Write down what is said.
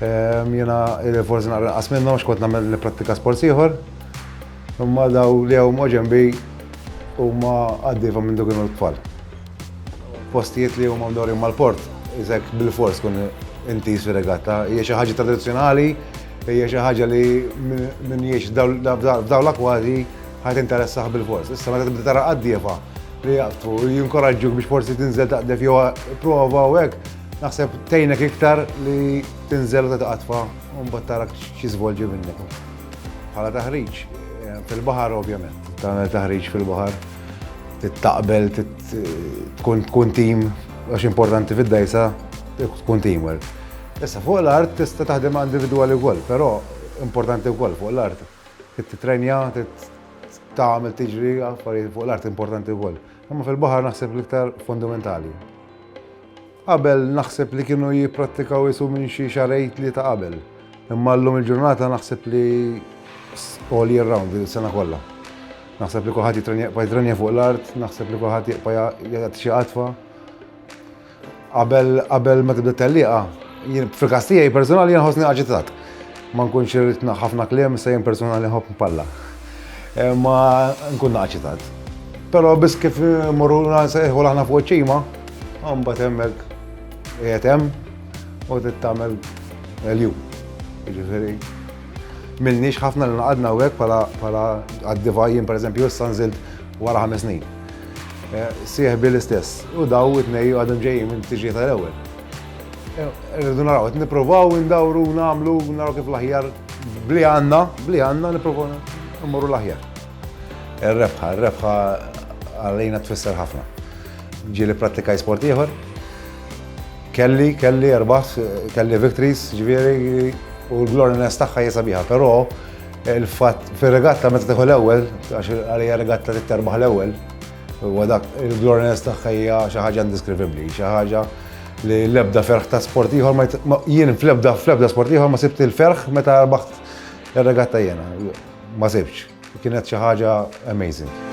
Jiena forsi naqra nqas minnhom għax kont nagħmel nipprattika sports ieħor. Imma daw li hawn ma' ġenbi huma għaddiefhom minn kienu l-tfal. Postijiet li huma mdorri mal-port, iżek bil-fors kun intiż fir-regatta, hija xi ħaġa tradizzjonali, hija xi ħaġa li minn jiex f'daw l-akwati ħadd interessaħ bil-fors. Issa meta tibda tara għaddiefa li jaqbtu, jinkoraġġuk biex forsi tinżel taqdef jew prova u hekk, Naħseb tgħinek iktar li tinżel u titqatfa u mbagħad tara x'jiżvolġi minnek. Bħala taħriġ eh, fil-baħar ovvjament, tagħmel taħriġ fil-baħar, tittaqbel, tkun tim għax importanti fid-dajsa tkun teamwork. Issa fuq l-art tista' taħdem individwali wkoll, però importanti wkoll fuq l-art. Titrenja, tagħmel tiġri affarijiet fuq l-art importanti wkoll. Imma fil-baħar naħseb l-iktar fundamentali. Qabel naħseb li kienu jipprattikaw isu minn xi xarejn tlieta qabel. Imma llum il-ġurnata naħseb li all year round din is-sena kollha. Naħseb li kulħadd jitrenja jitrenja fuq l-art, naħseb li kulħadd jibqa' jagħti xi qatfa. Qabel qabel meta bdiet tellieqa, jien fil-każ tiegħi personali jien ħossni aġitat. Ma nkunx irrid nagħha ħafna kliem, issa jien personali nħobb npalla. Eh, ma nkun naqċi tant. Però biss kif morru nsejħu aħna fuq ċima, għamba temmek qiegħed hemm u tittamel l-jum. Ġifieri, milniex ħafna li naqadna u hekk bħala għad-divajjin pereżempju issa nżilt wara ħames snin. Eh, Sieħbi l-istess u daw it-nej għadhom ġejjin minn tiġi tal-ewwel. Rridu naraw, qed nippruvaw indawru nagħmlu naraw kif l-aħjar bli għandna, bli għandna nippruvaw immorru l-aħjar. Ir-rebħa, ir-rebħa għalina tfisser ħafna. Ġieli prattika sport ieħor. Kelli, kelli erbaħ, kelli victories, ġifieri u l-gloriness tagħha hija sabiħa, però il-fatt fir-regatta meta tieħu l-ewwel, għax għalija regatta titterbaħ l-ewwel, Huwa dak il-gloriness tagħha hija xi ħaġa indiskrivibbli, xi ħaġa li l-ebda ferħ ta' sport ieħor ma jien fl-ebda fl-ebda sport ieħor ma sibt il-ferħ meta rbaħt ir-regatta jiena. Ma sibx. Kienet xi ħaġa amazing.